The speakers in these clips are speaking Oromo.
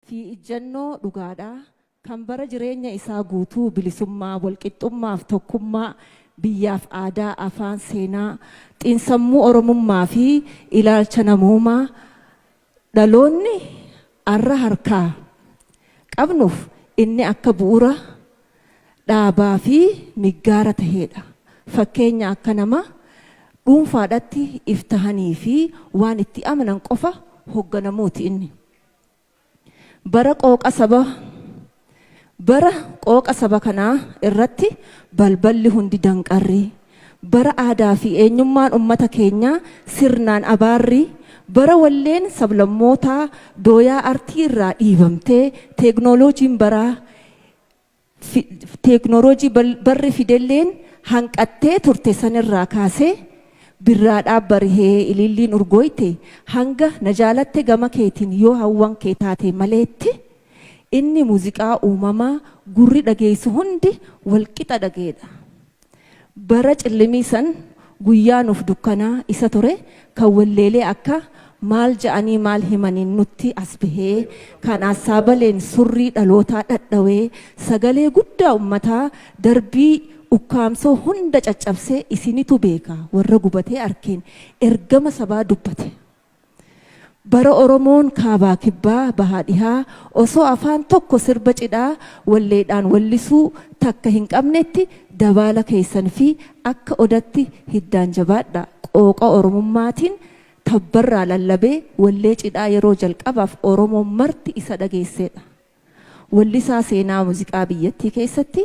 fi ijjannoo dhugaadha, kan bara jireenya isaa guutuu bilisummaa, walqixxummaa fi tokkummaa biyyaaf aadaa, afaan, seenaa, xiinsammuu Oromummaa fi ilaalcha namoomaa dhaloonni arra harkaa qabnuuf inni akka bu'ura dhaabaa fi miggaara taheedha. Fakkeenya akka nama dhuunfaadhatti if tahanii fi waan itti amanan qofa hogganamuuti inni. Bara qooqa saba Bara qooqa saba kanaa irratti balballi hundi danqarri, bara aadaa fi eenyummaan ummata keenyaa sirnaan abaarri, bara walleen sablammootaa dooyaa artii irraa dhiibamtee teeknooloojiin baraa teeknooloojii barri fidelleen hanqattee turte sanirraa kaasee birraa dhaab barihee ililliin urgooyte hanga na jaalatte gama keetiin yoo hawwan kee taate maleetti inni muuziqaa uumamaa gurri dhageessu hundi wal qixa dhaga'edha. Bara cillimii san guyyaa nuuf dukkanaa isa ture kan walleelee akka Maal ja'anii maal himaniin nutti as bahee kan Assaabaleen surrii dhalootaa dhadhawee sagalee guddaa ummataa darbii ukkaamsoo hunda caccabsee isinitu beeka warra gubatee arkeen ergama sabaa dubbate Bara Oromoon Kaabaa Kibbaa, Bahaa Dhihaa osoo afaan tokko sirba cidhaa walleedhaan wallisuu takka hin qabnetti dabaala keessan fi akka odatti hiddaan jabaadha qooqa Oromummaatiin tabbarraa lallabee wallee cidhaa yeroo jalqabaaf Oromoon marti isa dhageesseedha. Wallisaa seenaa muziqaa biyyattii keessatti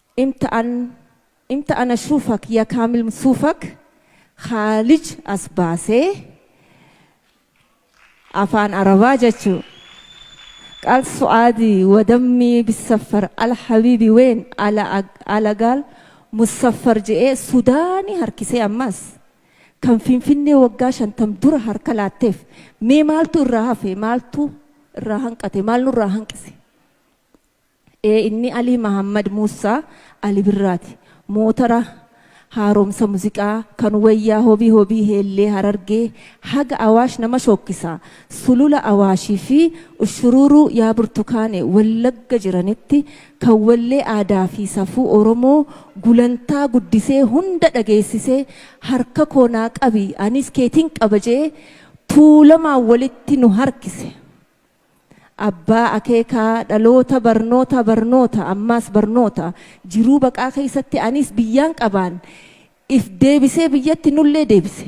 Imta an Imta an ashufak ya kamil msufak khalij as base afaan arabaa jachu qal suadi wa dammi bisafar al habibi wen ala ag ala gal musafar je'e sudani harkise ammas kan finfinne waggaa shantam dura harka laattef mee maaltu irraa hafe maaltu irraa hanqate maal nurraa hanqise. Ee inni Alii Mahammad Muussaa Ali Birraati. Mootara haaromsa muziqaa kan wayyaa Hobii Hobii Heellee Harargee haga Awaash nama shookkisa. Sulula Awaashii fi Ushuruuruu Yaa Burtukaane Wallagga jiranitti kan wallee aadaa fi safuu Oromoo gulantaa guddisee hunda dhageessise harka koo naa qabi anis keetin qaba je'e Tuulamaan walitti nu harkise. Abbaa akeekaa dhaloota barnoota barnoota ammaas barnoota jiruu baqaa keessatti aniis biyyaan qabaan if deebisee biyyatti nullee deebise.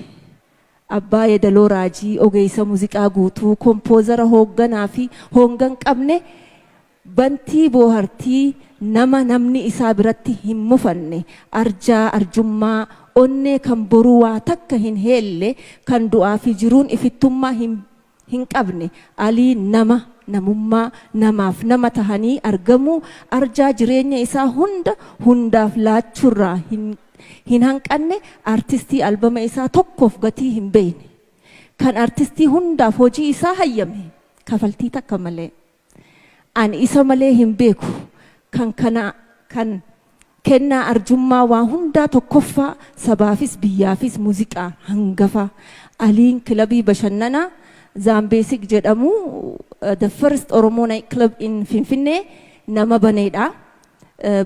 Abbaa yedaloo raajii ogeessa muziqaa guutuu kompoozara hoogganaa fi hoongan qabne bantii boohartii nama namni isaa biratti hin mufanne arjaa arjummaa onnee kan boruu waa takka hin heelle kan du'aa fi jiruun ifittummaa hin hin qabne alii nama namummaa namaaf nama tahanii argamuu arjaa jireenya isaa hunda hundaaf laachuurraa hin hin hanqanne artistii albama isaa tokkoof gatii hin beeyne kan artistii hundaaf hojii isaa hayyame kafaltii takka malee Ani isa malee hin beeku. Kan kana kan kennaa arjummaa waa hundaa tokkoffaa sabaafis biyyaafis muuziqaa hangafa Aliin kilabii bashannanaa Zaambeesik jedhamu the first Oromoo night club in Finfinnee nama baneedha.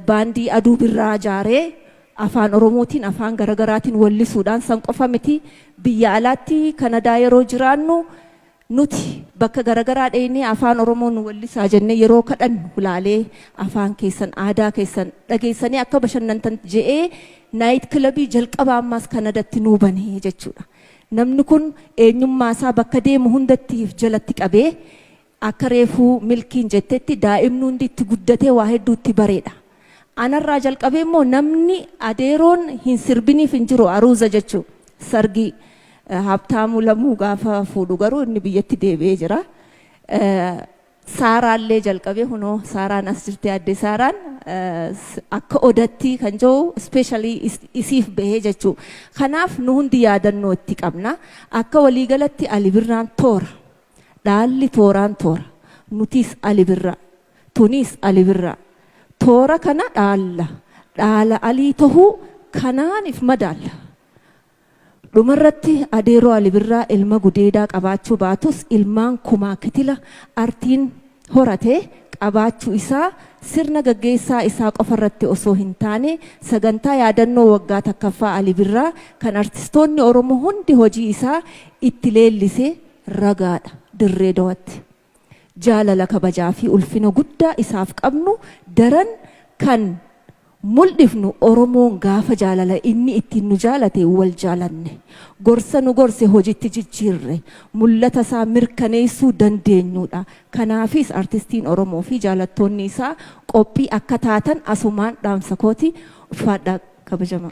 Baandii Aduu Birraa jaaree afaan Oromootiin afaan garagaraatiin wallisuudhaan san qofa miti biyya alaatti Kanadaa yeroo jiraannu Nuti bakka garagaraa dheeynee afaan oromoo nu wellisaa jennee yeroo kadhannu hulaalee afaan keessan aadaa keessan dhageessanii akka bashannantan je'ee naayit kilabii jalqabaa ammaas kanadatti nuu bane jechuudha. Namni kun eenyummaa isaa bakka deemu hundatti if jalatti qabee akka reefuu milkiin jettetti daa'imni hundi itti guddatee waa hedduu itti bareedha. Anarraa jalqabee immoo namni adeeroon hin sirbiniif hin jiru aruuza jechuu sargii Habtaamuu Lamuu gaafa fuudhu garuu inni biyyatti deebi'ee jira. Saaraallee jalqabee kunoo Saaraan as jirti addee Saaraan akka odattii kan jiru ispeeshaalii isiif bahee jechuu. Kanaaf nu hundi yaadannoo itti qabna. Akka waliigalatti Ali Birraan toora. Dhaalli tooraan toora. Nutiis Ali Birraa. Tuniis Ali Birraa. Toora kana dhaalla. Dhaala Alii tahuu kanaan if madaalla. Dhumarratti Adeeroo Ali Birraa ilma gudeedaa qabaachuu baatus ilmaan kumaa kitila artiin horate qabaachuu isaa sirna gaggeessaa isaa qofarratti osoo hin taane sagantaa yaadannoo waggaa takkaffaa Ali Birraa kan artistoonni Oromoo hundi hojii isaa itti leellise ragaadha Dirree Dawatti. Jaalala, kabajaa fi ulfina guddaa isaaf qabnu daran kan muldhifnu Oromoon gaafa jaalala inni ittiin nu jaalate wal jaalanne, gorsa nu gorse hojiitti jijjiirre, mullata isaa mirkaneessuu dandeenyuu dha. Kanaafis Artistiin Oromoo fi jaalattoonni isaa qophii akka taatan asumaan dhaamsa kooti. Ulfaadhaa kabajamaa!